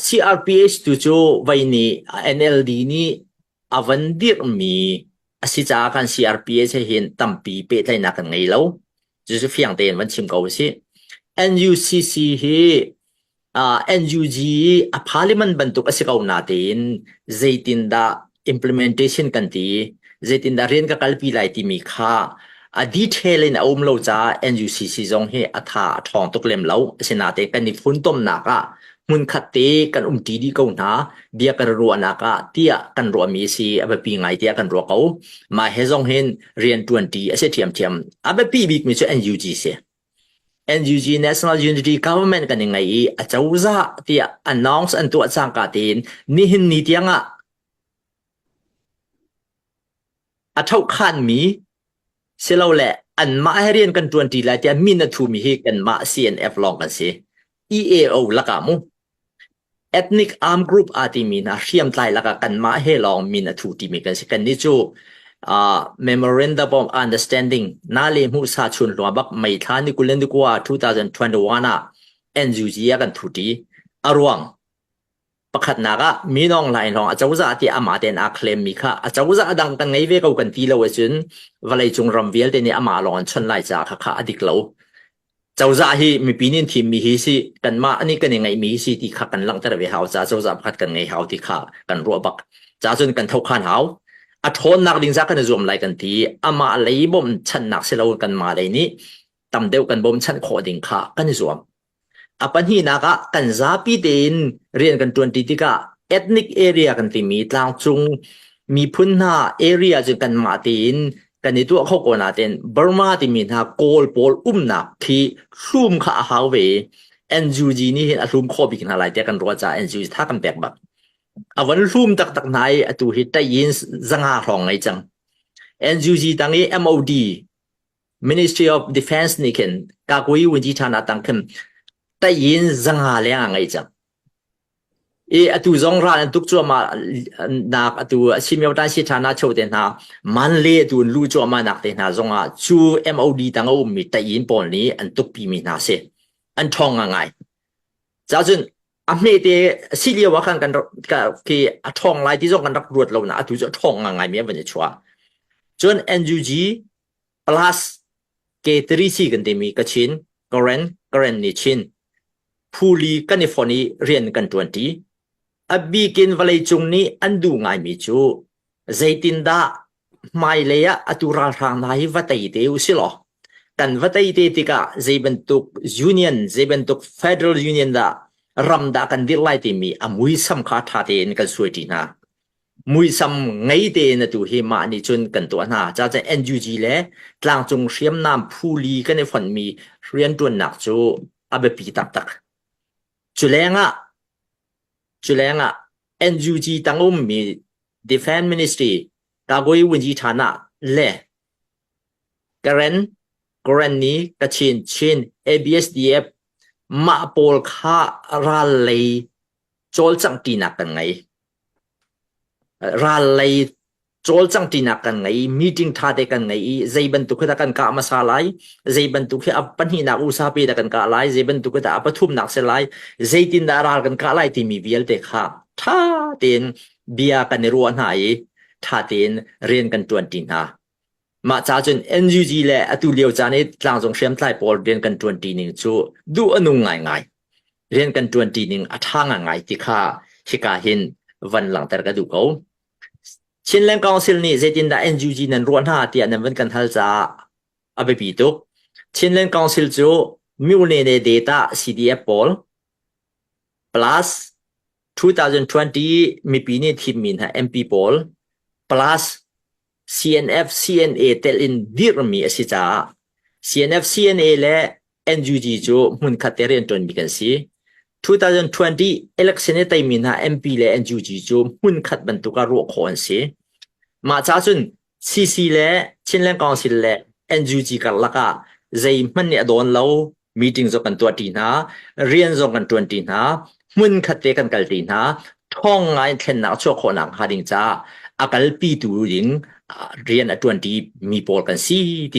CRPH tu cu vei nih NLD nih a van dirhmi a si caah kan CRPH he hin tampi pehtlaihnak kan ngei lo. Cucu fiang tein van chim ko usih. NUCC hi NUG a parliament bantuk a si ko natein zeitindah implementation kan ti i zeitindah rian ka kalpi lai timi kha a detail in a um lo caah NUCC zong hi a tha a ṭhawng tuk lem lo asinain kan i funtomnak ah hmunkhat te kan um ṭi dih ko hna bia kan ruahnak ah tiah kan ruahmi a si a biapi ngai tiah kan ruah ko mah he zong hin rian ṭuan ṭi a si ṭhiamṭhiam a biapi bikmi cu NUG si NUG National Unity Government kan i ngei i a cozah tiah announce an tuah cangka tein nihin ni tiangah a thohkhanmi silole anmah he rian kan ṭuanṭi lai tiah min a ṭhumi hi kanmah CNF lawng kan si. EAO lakah mu ethnic armed group aa timi hna hriamtlai lakah kanmah he lawng min a thu timi kan si kan ni cu uh, memorandum of understanding na le mu sa chun hlua bak mai thla ni kulen ni kwa 2021 ah NUG a kan thu ti aruang Pakhatnak ah Minong Hlain hrawng acozah tiah amah tein aa claim mi kha acozah dang kan ngei ve ko kan ti lo ahcun vawleicung ram vialte nih amah lawng an chawnh lai caah khakha a dik lo. Cozah hi mipi nih thim mi hi si kanmah nih kan i ngeih mi hi si ti kha kan langhter ve hau caah cozah pakhat kan ngei hau ti kha kan ruah bak. Caah cun kan thokhan hau. A ṭhawnnak ding zah kan i zuam lai kan ti. Amah lei bawmchannak si lo kanmah lei nih tam deuh kan bawmchanh khawh ding kha kan i zuam. A pahnihnak ah kan zapi tein rian kan ṭuanṭi tikah ethnic area kan timi tlangcung miphun hna area cu kanmah tein kan i tuah kho ko nain Burma timi hna Kawl pawl umnak khi hlum kha a hau ve i NUG nih hin a hlum khawh bik hna lai tiah kan ruah caah NUG tha kan pek bak. A van hlum taktak hna i atu hi Taiyins zanga hrawng ngei cang. NUG tang i MOD Ministry of Defense nih khin Kakui Winjithana tang khin tayin zanga leng a ngei cang. I atu zong ral an tuk cuahmah nak atu asimio tan si thana cho te hna man le tu lu cuahmah nak te hna zong ah cu MOD tang a um mi tayin pawl nih an tuk pi mi hna si an thong a ngai. Ca cun a hme te si lio ah khan kan ki a thong lai ti zong kan rak ruat lo na atu cu thong a ngai mi an van i chua. Cun NUG Plus Cateri si kan timi ka Chin, Karen, Karen nih Chin. Phuli kan i fon i rian kan ṭuanṭi. A bikin vawleicung nih an duh ngaimi cu zeitindah hmailei ah atu ralhrang hna hi va tei te u si law kan va tei te tikah zei bantuk union, zei bantuk federal union dah ram dah kan dirh lai timi a muisam kha ṭha tein kan sualṭi hna. Muisam ngei tein atu hi mah nih cun kan tuah hna. Cacaah NUG le tlangcung hriamnam phuli kan i fonhmi rianṭuannak cu a biapi taktak. Culengah, culengah NUG tang ummi Defense Ministry Kagwe Winyi Thana le Karen Karenni Kachin Chin ABSDF mah pawl kha ral lei cawlcanghpinak kan ngei. Ral lei cawlcang tinak kan ngei. Meeting ṭha te kan ngei i zei bantuk hi dah kan kah hmasa lai, zei bantuk hi a pahnihnak usa pe dah kan kah lai, zei bantuk hi dah a pathumnak si lai, zeitindah ral kan kah lai timi vialte kha ṭha tein bia kan i ruah hna i ṭha tein rian kan ṭuanṭi hna. Mah cacun NUG le atulio caan i tlangcung hriamtlai pawl rian kan ṭuanṭi ning cu duh a nung ngaingai. Rian kan ṭuanṭi ning a ṭha ngaingai ti kha hika hin van langhter ka duh ko. Chinland Council nih zeitindah NUG nan ruah hna tiah nan van kan hal caah a biapi tuk. Chinland Council cu mi nene data CDF pawl plus 2020 mipi nih thimmi hna MP pawl plus CNF CNA telh in dirhmi a si caah CNF CNA le NUG cu hmunkhat te rianṭuan bik an si. 2020 election i teimi hna MP le NUG cu hmunkhat bantuk ah ruah khawh an si. Mah ca cun CC le Chin Leng Council le NUG karlak ah zeihmanh nih a dawn lo meeting zong kan tuahṭi hna rian zong kan ṭuanṭi hna hmunkhat te kan kalṭi hna ṭhawng ngaiin thlennak a chuah khawhnak hnga ding caah a kalpitu ding rian a ṭuanṭi mi pawl kan si ti